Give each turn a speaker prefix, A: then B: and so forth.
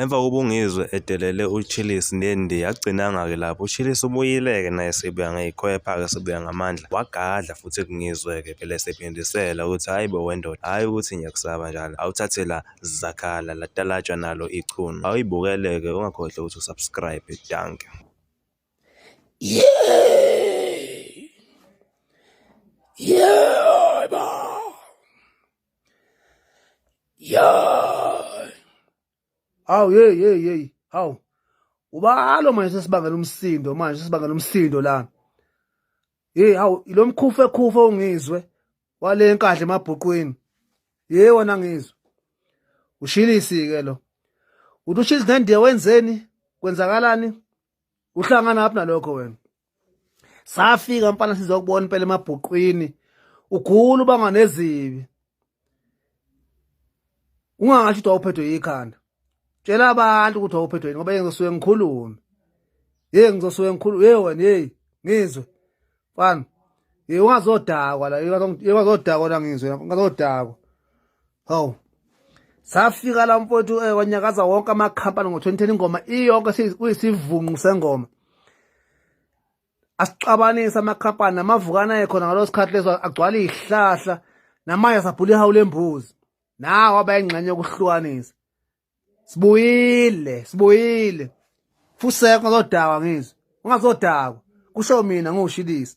A: Emva kokuba uNgizwe edelele uChillis nendi yagcinanga-ke lapho uChillis ubuyile-ke naye sebuya ngeyikhwepha-ke sebuya ngamandla wagadla futhi kuNgizwe-ke phela esephindisela ukuthi hhayi bo wendoda hhayi ukuthi ngiyakusaba njalo awuthathe la zakhala latalatshwa nalo ichunu awuyibukele-ke ungakhohlwa ukuthi usubscribe danke yeah
B: yeah ya hawu yeyi yeyi yeyi hawu ubalo manje sesibangela umsindo manje sesibangela umsindo la hey hawu lo mkhufe khufe ongizwe wale enkadla emabhuqwini ye wona ngizwe ushilisi ke lo uthi ushilisi nendiya wenzeni kwenzakalani uhlangana aphi nalokho wena safika mfana sizokubona impela emabhuqwini ukhulu banga nezibi ungangasho ukuthi wawuphethwe yikhanda tshela abantu ukuthi wawuphethwe yini ngoba yeke ngizosuke ngikhulume yeke ngizosuke ngikhulume ye wena yeyi ngizwe mfana ye ungazodakwa la ye ungazodakwa la ngizwe ungazodakwa hawu safika la mfowethu eh, wanyakaza wonke amakhampani ngo-2010 ingoma iyonke kuyisivunqu sengoma asixabanise amakhampani namavukana ekhona ngalo sikhathi leso agcwala izihlahla namanje sabhula ihawu lembuzi nawo abayingxenye yokuhlukanisa sibuyile sibuyile fuseko ngazodakwa ngizwe ungazodakwa kusho mina ngiwushilisa